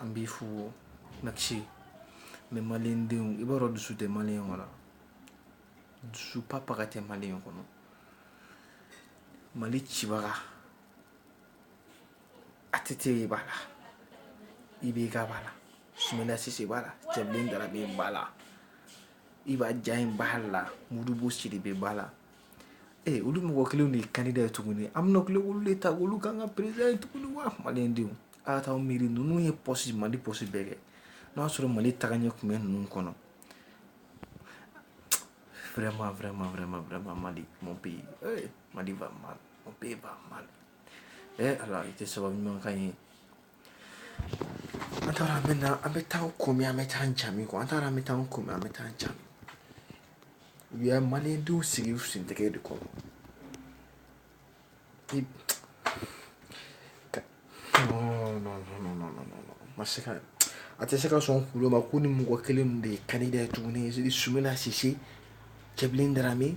An b'i fo na mɛ manden i b'a dɔn dusu tɛ mali in kɔnɔ dusu pa pa tɛ mali in kɔnɔ mali cibaga a tɛ tɛ e b'a la i bɛ ga b'a la sɛgɛnlasi b'a la cɛ da bɛ ba la i b'a diya in ba la murubo siri bɛ ba la Ee olu mɔgɔ kelen de ye kan da ye tuguni an bɛ ku wolo de ta olu ka kan ka perez ye tuguni wa manden denw ala taa miiri ninnu ye psi mali psi bɛɛ kɛ n'o y'a sɔrɔ mali taga ɲɛ tun bɛ ninnu kɔnɔ fɛrɛma fɛma fɛma fɛma mali mɔ bɛ yen mali mɔ bɛ ban mali ala i tɛ sababu ɲumankan ye An taara an bɛ na an bɛ taa ko min an bɛ taa ca min an taara an bɛ taa ko an bɛ taa ca u ye malien denw sigi u sen tɛgɛ de kɔrɔ ma se ka a tɛ se ka sɔn kuloma ko ni mɔgɔ kelen de ye candidat ye tuguni Soumaila Cisse Cɛbilen Dramé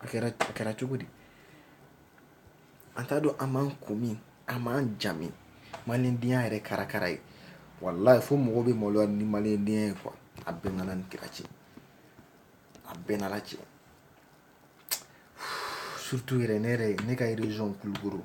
A kɛra a kɛra cogo di an t'a dɔn an b'an ko min an b'an jamu maliendenya yɛrɛ karakara ye wallahi fo mɔgɔw bɛ maloya ni maliendenya ye quoi a bɛ n n'Ala ni kira cɛ a bɛ n n'Ala cɛ surtout yɛrɛ ne yɛrɛ ne ka région kulukoro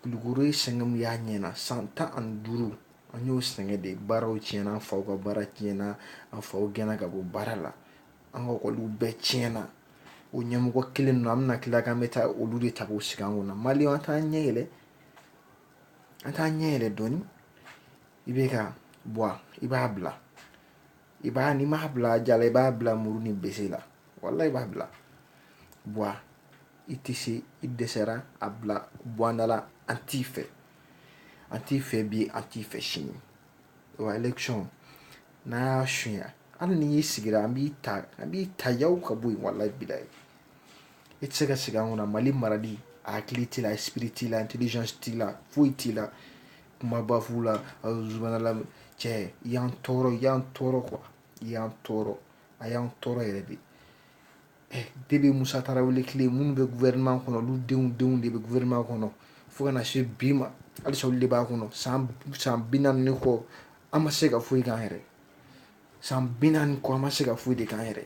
Kulukoro ye sɛgɛn min y'a ɲɛna san tan ani duuru an y'o sɛgɛn de baaraw tiɲɛna an faw ka baara tiɲɛna an faw gɛnna ka bɔ baara la an ka école bɛɛ tiɲɛna o ɲɛmɔgɔ kelen ninnu an bɛna tila k'an bɛ taa olu de ta k'u sigi an kunna malienw an t'an ɲɛ yɛlɛ an t'an ɲɛ yɛlɛ dɔɔnin IBK bɔ a i b'a bila i b'a n'i m'a bila a diya la i b'a bila muru ni bese la wallahi i b'a bila bɔ i tɛ se i dɛsɛra a bila bɔndala an t'i fɛ an t'i fɛ bi an t'i fɛ sini wa élection n'a y'a sunya hali n'i y'i sigira an b'i ta an b'i ta yaw ka bɔ yen wallahi billahi i tɛ se ka sigi an kunna mali marali a hakili t'i la esprit t'i la intelligence t'i la foyi t'i la Kuma ba f'u la subhanallah cɛ y'an tɔɔrɔ y'an tɔɔrɔ quoi y'an tɔɔrɔ a y'an tɔɔrɔ yɛrɛ de depuis Musa Tarawele tile minnu bɛ gouvernement kɔnɔ olu denw denw de bɛ gouvernement kɔnɔ fo ka na se bi ma halisa olu de b'a kɔnɔ san san bi naani kɔ an ma se ka foyi k'an yɛrɛ san bi naani kɔ an ma se ka foyi de k'an yɛrɛ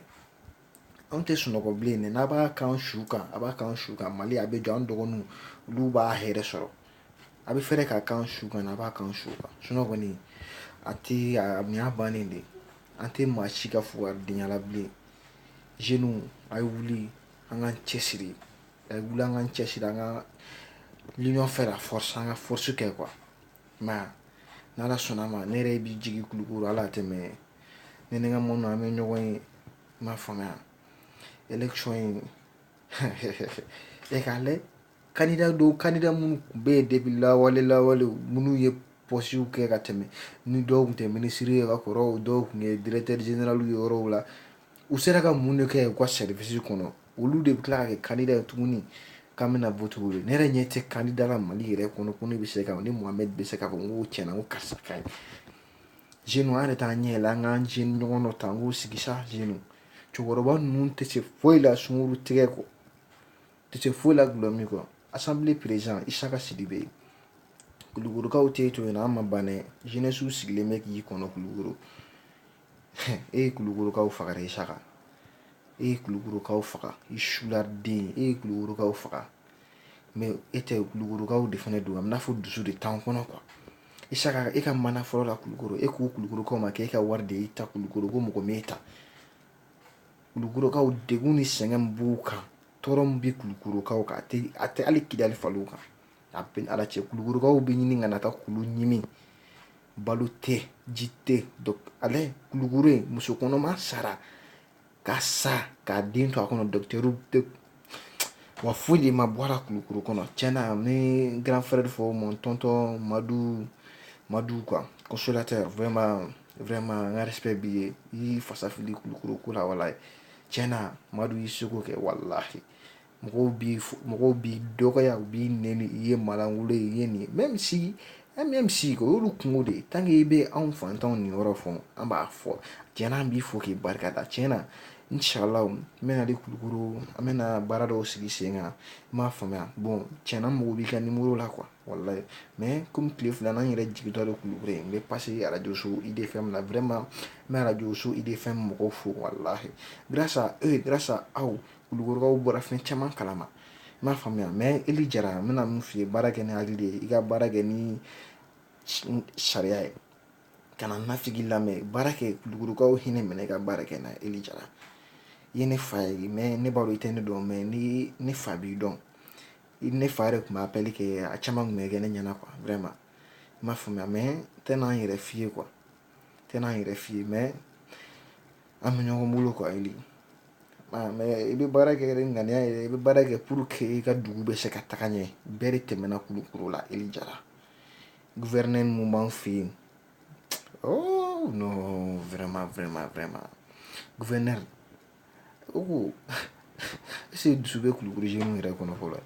Anw tɛ sunɔgɔ bilen dɛ n'a b'a k'an su kan a b'a k'an su kan mali a bɛ jɔ an dɔgɔninw olu b'a hɛrɛ sɔrɔ a bɛ fɛrɛ k'a k'an su kan a b'a k'an su kan sunɔgɔ a tɛ miya bannen de an tɛ maa si ka fugaridenya la bilen jeunes a ye wuli an k'an cɛ siri a wuli an k'an cɛ siri an ka l'union fait la force an ka force kɛ quoi Mais n'ala sɔnna ma ne yɛrɛ b'i jigin kulukoro hali a tɛ mɛn ne ni n ka mɔgɔw an bɛ ɲɔgɔn ye i m'a faamuya élection in e k'a lajɛ candidat minnu tun bɛ yen depuis lawale lawale minnu ye postew kɛ ka tɛmɛ ni dɔw tun tɛ ministre ye ka kɔrɔ dɔw tun ye directeur général ye yɔrɔw la u sera ka mun de kɛ u ka service kɔnɔ olu de bɛ tila ka kɛ candidat ye tuguni k'an bɛna voter olu ye ne yɛrɛ ɲɛ tɛ candidat la mali yɛrɛ kɔnɔ ko ne bɛ se ka ne mohamed bɛ se k'a fɔ n ko cɛn ko karisa ka ɲi jeunes an yɛrɛ t'an ɲɛ yɛlɛ an k'an jeune ɲɔgɔn dɔ ta k'o sigi sa jeunes cɛkɔrɔba ninnu tɛ se foyi la sunguru tigɛ kɔ tɛ se foyi la dulɔ min kɔ assemblée président isaka sidibe yen kulukorokaw tɛ to yen an ma ban dɛ jeunessew sigilen bɛ k'i kɔnɔ kulukoro E ye kulukorokaw faga dɛ isaka e ye kulukorokaw faga i suladen e ye kulukorokaw faga mais e tɛ kulukorokaw de fana don a bɛ n'a fɔ dusu de t'an kɔnɔ quoi isaka e ka mandat fɔlɔ la kulukoro e ko kulukorokaw ma k'e ka wari de y'e ta kulukoro ko mɔgɔ m'e ta kulukorokaw degun ni sɛgɛn b'u kan tɔɔrɔ min bɛ kulukorokaw kan a tɛ hali kidali faliw kan a bɛ ala cɛ kulukorokaw bɛ ɲini ka na taa kulu ɲimi balo tɛ ji tɛ ale kulukoro yen muso kɔnɔma sara ka sa k'a den to a kɔnɔ docteur tɛ wa foyi de ma bɔ a la kulukoro kɔnɔ tiɲɛna n bɛ grand frère de fo mon tonton madu madu ka consolateur vraiment vraiment n ka respect b'i ye i y'i fasa fili kulukoro ko la walahi tiɲɛna madu y'i seko kɛ walahi mɔgɔw bɛ mɔgɔw b'i dɔgɔya u b'i nɛni i ye malankolon ye i ye nin ye même si e même si o y'olu kunko de ye tant que i bɛ anw fantanw niyɔrɔ fɔ an b'a fɔ cɛ an b'i fo k'i barika da tiɲɛna inshallah n bɛna de kulukoro an bɛna baara dɔw sigi sen kan i m'a faamuya bon tiɲɛna n mako b'i ka numéro la quoi walahi mais comme tile fila n yɛrɛ jigintɔ don kulukoro yen n bɛ passer arajoso IDFM na vraiment n bɛ arajoso IDFM mɔgɔw fo walahi grâce à eux grâce à aw Kulukorokaw bɔra fɛn caman kalama i m'a faamuya mais eli jara n bɛna min f'i ye baara kɛ ni hakili de ye i ka baara kɛ ni sariya ye kana nafigi lamɛn baara kɛ kulukorokaw hinɛ minɛ i ka baara kɛ n'a ye eli jara i ye ne fa ye mais ne b'a dɔn i tɛ ne dɔn mais ni ne fa b'i dɔn i ne fa yɛrɛ tun b'a appel kɛ a caman tun bɛ kɛ ne ɲɛna quoi vraiment i m'a faamuya mais n tɛna n yɛrɛ f'i ye quoi n tɛna n yɛrɛ f'i ye mais An bɛ ɲɔgɔn bolo quoi Eli mais i bɛ baara kɛ ni ŋaniya ye i bɛ baara kɛ pour que i ka dugu bɛ se ka taga ɲɛ bɛɛ de tɛmɛna kulukoro la Eli Jara gouverneur min b'an fɛ yen vraiment vraiment vraiment gouverneur o ko est-ce que dusu bɛ kulukoro jeunes yɛrɛ kɔnɔ fɔlɔ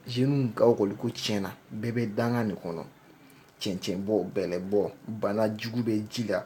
jeunes ka école ko tiɲɛna bɛɛ bɛ danga nin kɔnɔ cɛncɛnbɔ bɛlɛbɔ banajugu bɛ ji la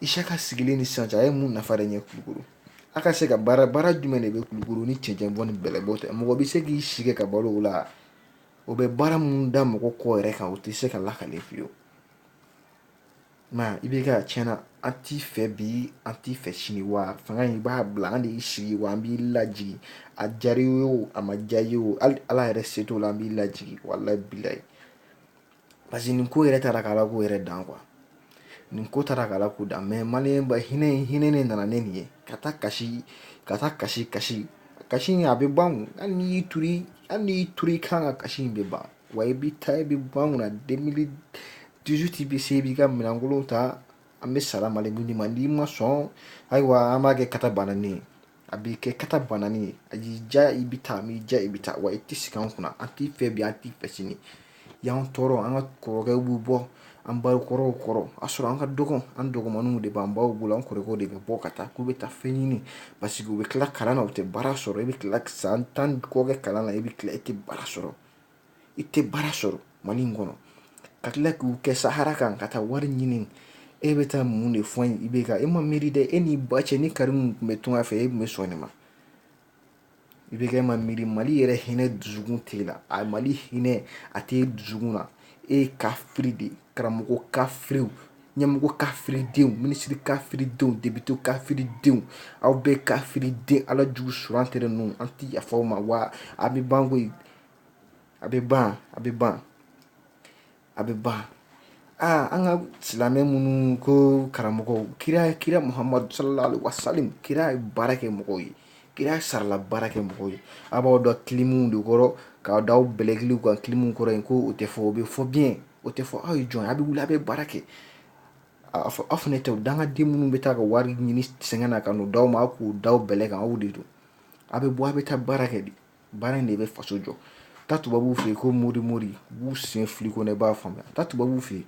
Isaka sigilen ni sisan cɛ a ye mun nafa de ɲɛ kulukoro a ka se ka baara baara jumɛn de bɛ kulukoro ni cɛncɛn bɔ ni bɛlɛbɔ tɛ mɔgɔ bɛ se k'i sigi ka balo o la o bɛ baara minnu da mɔgɔ kɔ yɛrɛ kan o tɛ se ka lakale fiyewu nka IBK tiɲɛ na an t'i fɛ bi an t'i fɛ sini wa fanga in i b'a bila an de y'i sigi wa an b'i lajigin a diyara i ye o a ma diya i ye o hali ala yɛrɛ se t'o la an b'i lajigin walayi bilayi Parce que nin ko yɛrɛ taara k'Ala ko yɛrɛ dan quoi nin ko taara k'Ala ko dan mais maliba hinɛ hinɛ ne nana ne nin ye ka taa kasi ka taa kasi kasi kasi in a bɛ ban hali n'i y'i to hali n'i to i kan ka kasi in bɛ ban wa i bɛ taa i bɛ bɔ an kunna deux mille dix-huit bɛ se i b'i ka minɛnkolon ta an bɛ sara malidenw ma n'i ma sɔn ayiwa an b'a kɛ kata bananen a bɛ kɛ kata bananen ye a y'i diya i bɛ taa a m'i diya i bɛ taa wa i tɛ sigi an kunna an t'i fɛ bi an t'i fɛ sini i y'an tɔɔrɔ an ka kɔrɔkɛw b'u bɔ an bakɔrɔw kɔrɔ a sɔrɔ an ka dɔgɔ an dɔgɔmaninw de b'an baw bolo an kɔrɔkɛw de bɛ bɔ ka taa k'u bɛ taa fɛn ɲini parce que u bɛ tila kalan na u tɛ baara sɔrɔ i bɛ tila san tan kɔ kɛ kalan na i bɛ tila i tɛ baara sɔrɔ i tɛ baara sɔrɔ mali in kɔnɔ ka tila k'u kɛ sahara kan ka taa wari ɲini e bɛ taa mun de fɔ IBK e ma miiri dɛ e ni ba cɛ ni Karimu tun bɛ tunga fɛ e tun bɛ sɔn nin ma IBK e ma miiri mali yɛrɛ hinɛ dusukun t'e la a mali hinɛ a t'e dusukun na e ye kafiri de karamɔgɔ kafiriw ɲɛmɔgɔ kafiridenw minisiri kafiridenw député kafiridenw aw bɛɛ kafiriden ala jugu surante ninnu an tɛ yafa aw ma wa a bɛ ban ko a bɛ ban a bɛ ban a bɛ ban aa an ka silamɛ minnu ko karamɔgɔ kira kira muhamadu sallallahu alaihi wasallam kira ye baara kɛ mɔgɔw ye kira sarala baara kɛ mɔgɔw ye a b'aw dɔn kilimu de kɔrɔ k'aw da aw bɛlɛkili kan kilimu kɔrɔ yen ko o tɛ fɔ o bɛ fɔ bi o tɛ fɔ aw ye jɔn ye a bɛ wuli a bɛ baara kɛ a fɔ aw fana tɛ dangaden minnu bɛ taa ka wari ɲini sɛgɛn na ka n'o d'aw ma k'u da bɛlɛ kan aw de don a bɛ bɔ a bɛ taa baara kɛ de Baara in de bɛ faso jɔ taa tubabuw fɛ yen ko mori mori b'u sen fili ko ne b'a faamuya taa tubabu fɛ yen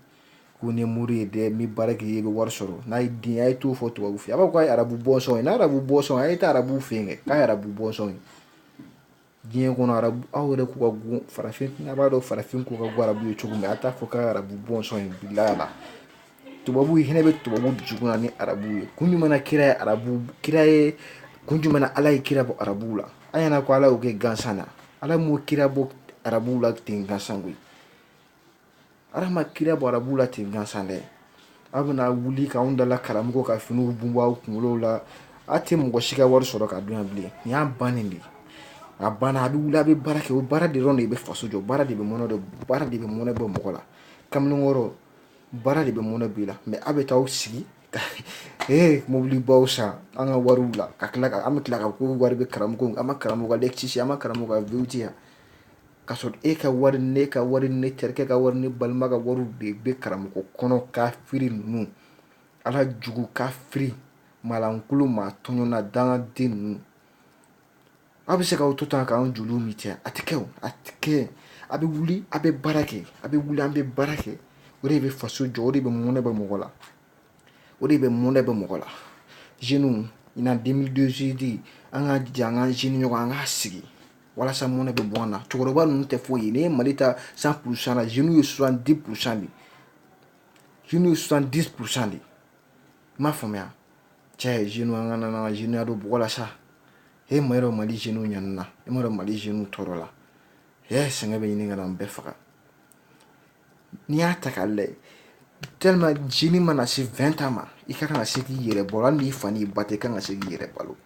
ko ni mori ye dɛ n'i baara kɛ i bɛ wari sɔrɔ n'a ye den a ye t'o fɔ tubabu fɛ a b'a fɔ k'a arabu bɔnsɔn n'a arabu bɔnsɔn a ye taa arabu fɛ yen kɛ k'a arabu bɔnsɔn ye diɲɛ kɔnɔ arabu aw yɛrɛ ko ka go farafin a b'a dɔn farafin ko ka go arabu ye cogo min a t'a fɔ k'a arabu bɔnsɔn in la tubabu hinɛ bɛ tubabu dusukun na ni arabu ye kun jumɛn na kira ye arabu kira ye kun jumɛn na ala ye kira bɔ arabuw la a ɲɛna ko ala y'o kɛ gansan na ala m'o kira bɔ arabuw la ten gansan koyi ala ma kira bɔ arabuw la ten gansan dɛ aw bɛna wuli k'anw dala karamɔgɔ ka finiw bunbɔ aw kunkolo la a tɛ mɔgɔ si ka wari sɔrɔ ka dun yan bilen nin y'a bannen de ye a banna a bɛ wuli a bɛ baara kɛ o baara de dɔrɔn de bɛ faso jɔ baara de bɛ mɔnɛ bɔ baara de bɛ mɔnɛ bɔ mɔgɔ la kamalenkɔrɔ baara de bɛ mɔnɛ bɔ i la mais a' bɛ t'aw sigi ka ee mobilibaw san an ka wariw la ka tila ka an bɛ tila ka ko wari bɛ karamɔgɔ an ma karamɔgɔ ka Lexus an ma karamɔgɔ ka V8 yan ka sɔrɔ e ka wari ne ka wari ne terikɛ ka wari ne balima ka wari de bɛ karamɔgɔ kɔnɔ kafiri ninnu ala jugu kafiri maalankolon maa tɔɲɔna dangaden ninnu Aw bɛ se k'aw to tan k'an joli min cɛ a tɛ kɛ a tɛ kɛ a bɛ wuli a bɛ baara kɛ a bɛ wuli an bɛ baara kɛ o de bɛ faso jɔ o de bɛ mɔnɛ bɔ mɔgɔ la o de bɛ mɔnɛ bɔ mɔgɔ la jeunes in na deux mille dix-huit an ka jija an ka jeune ɲɔgɔn an k'a sigi walasa mɔnɛ bɛ bɔ an na cɛkɔrɔba ninnu tɛ foyi ye n'i ye mali ta cent pour cent jeunes ye soixante-dix pour cent de jeunes ye soixante-dix pour cent de i m'a faamuya cɛ z an ka nana zya don bla sa e ma yɔrɔ mali zw ɲ na e ma mali z tɔɔrɔ la e sɛgɛn bɛ ɲini ka n bɛɛ faga n'i y'a ta k'a lajɛ te jinin mana se fɛn ta ma i ka kan ka se k'i yɛrɛ bɔ n' fa' ba tɛ ka kan ka se k'i yɛrɛ balo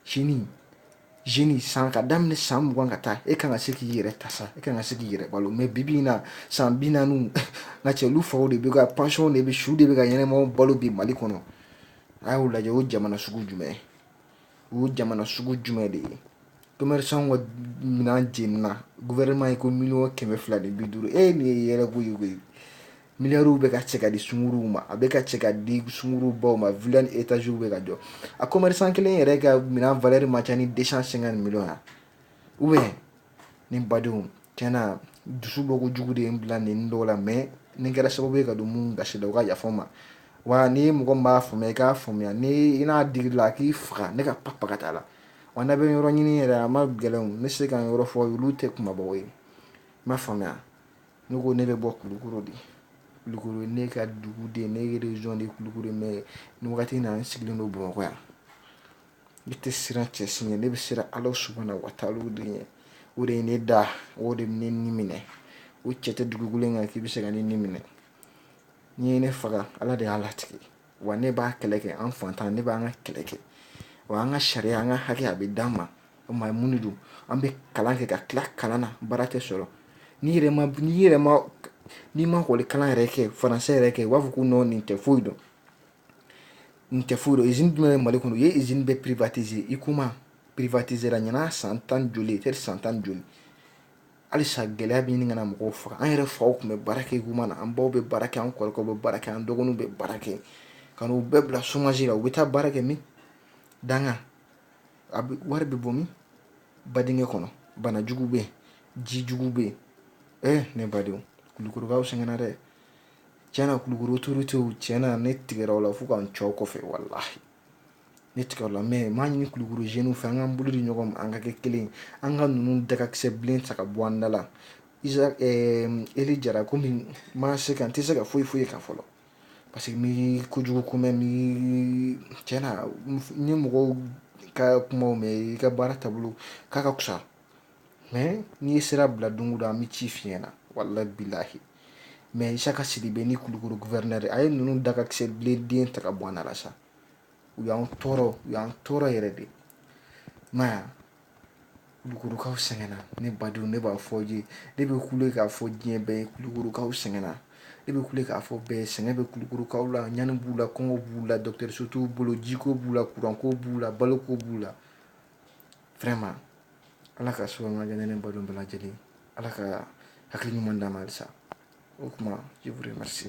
sini jeune san ka daminɛ san mugan ka taa e ka kan ka se k'i yɛrɛ ta sa e ka kan ka se k'i yɛrɛ balo mais bibi in na san bi naani n ka cɛ olu faw de bɛ ka pension de bɛ su de bɛ ka ɲɛnɛmaw balo bi mali kɔnɔ a y'o lajɛ o jamana sugu jumɛn o jamana sugu jumɛn de ye commerçant ka minɛn jenina gouvernement ye ko miliyɔn kɛmɛ fila ni bi duuru e nin ye yɛrɛ ko ye koyi Miliyariw bɛ ka cɛ ka di sungurunw ma a bɛ ka cɛ ka di sungurunbaw ma villa ni etaziw bɛ ka jɔ a commerçant kelen yɛrɛ ka minɛn valeur man ca ni deux cent cinquante millions ya ou bien ne badenw tiɲɛna dusu bɔ ko jugu de ye n bila nin dɔw la mais ni kɛra sababu ye ka don minnu gasi la u ka yafa n ma wa ni mɔgɔ min b'a faamuya i k'a faamuya ni i n'a digir'i la a k'i faga ne ka pap ka taa la wa n'a bɛ n yɔrɔ ɲini yɛrɛ a man gɛlɛn ne se ka n yɔrɔ fɔ olu tɛ kumabaw ye i m'a faamuya Ne ko ne bɛ bɔ kulukɔrɔ de kulukɔrɔ ye ne ka dugu de ne région de kulukɔrɔ mais nin wagati na n sigilen don bamakɔ yan ne tɛ siran cɛ si ɲɛ ne bɛ siran ala subahana wa taala de ɲɛ o de ye ne da o de bɛ ne ni minɛ o cɛ tɛ dugukolo kan k'i bɛ se ka ne ni minɛ n'i ye ne faga ala de y'a latigɛ wa ne b'a kɛlɛ kɛ an fantan ne b'an ka kɛlɛ kɛ wa an ka sariya an ka hakɛ a bɛ d'an ma o ma mun don an bɛ kalan kɛ ka tila kalan na baara tɛ sɔrɔ ni yɛrɛ n'i ma ekɔli kalan yɛrɛ kɛ faransɛ yɛrɛ kɛ u b'a fɔ ko non nin tɛ foyi dɔn nin tɛ foyi dɔn izini jumɛn bɛ mali kɔnɔ u ye izini bɛɛ privatiser huicoma privatiséra ɲinan san tan joli peut-être san tan joli halisa gɛlɛya bɛ ɲini ka na mɔgɔw faga an yɛrɛ faw tun bɛ baara kɛ huicoma na an baw bɛ baara kɛ an kɔrɔkɛw bɛ baara kɛ an dɔgɔninw bɛ baara kɛ ka u bɛɛ bila somasi la u bɛ taa baara kɛ min danga a bɛ wari bɛ bɔ min badenkɛ kɔnɔ banajugu bɛ yen jijugu bɛ yen ne badenw kulukorokaw sɛgɛnna dɛ tiɲɛna kulukoro autorités tiɲɛna ne tigɛra u la fo ka n cɛw kɔfɛ walahi Ne tigɛra u la mɛ n b'a ɲini kulukoro jeunes fɛ an k'an bolo di ɲɔgɔn ma an ka kɛ kelen an ka ninnu dakakisɛ bilen ta ka bɔ an da la eli jara komi n ma se ka n tɛ se ka foyi fɔ i kan fɔlɔ parce que n m'i kojugu ko mɛn cɛn na n ye mɔgɔw ka kumaw mɛn i ka baara taabolo k'a ka kusa n'i ye sira bila don o don an bɛ cɛn f'i ɲɛ na walahi bilahi mɛ isaka sidibe ni kulukoro gouverneur a ye ninnu dakisɛ bilen ta ka bɔ an da la sa u y'an tɔɔrɔ u y'an tɔɔrɔ yɛrɛ de na kulukorokaw sɛgɛnna ne badenw ne b'a fɔ ye ne bɛ kule k'a fɔ diɲɛ bɛɛ ye kulukorokaw sɛgɛnna ne bɛ kule k'a fɔ bɛɛ sɛgɛn bɛ kulukorokaw la ɲani b'u la kɔngɔ b'u la dɔgɔtɔrɔso t'u bolo jiko b'u la kuranko b'u la baloko b'u la fɛrɛma ala ka soma jan ne balo bɛɛ lajɛlen ala ka hakili ɲuman dansa o tuma i ma se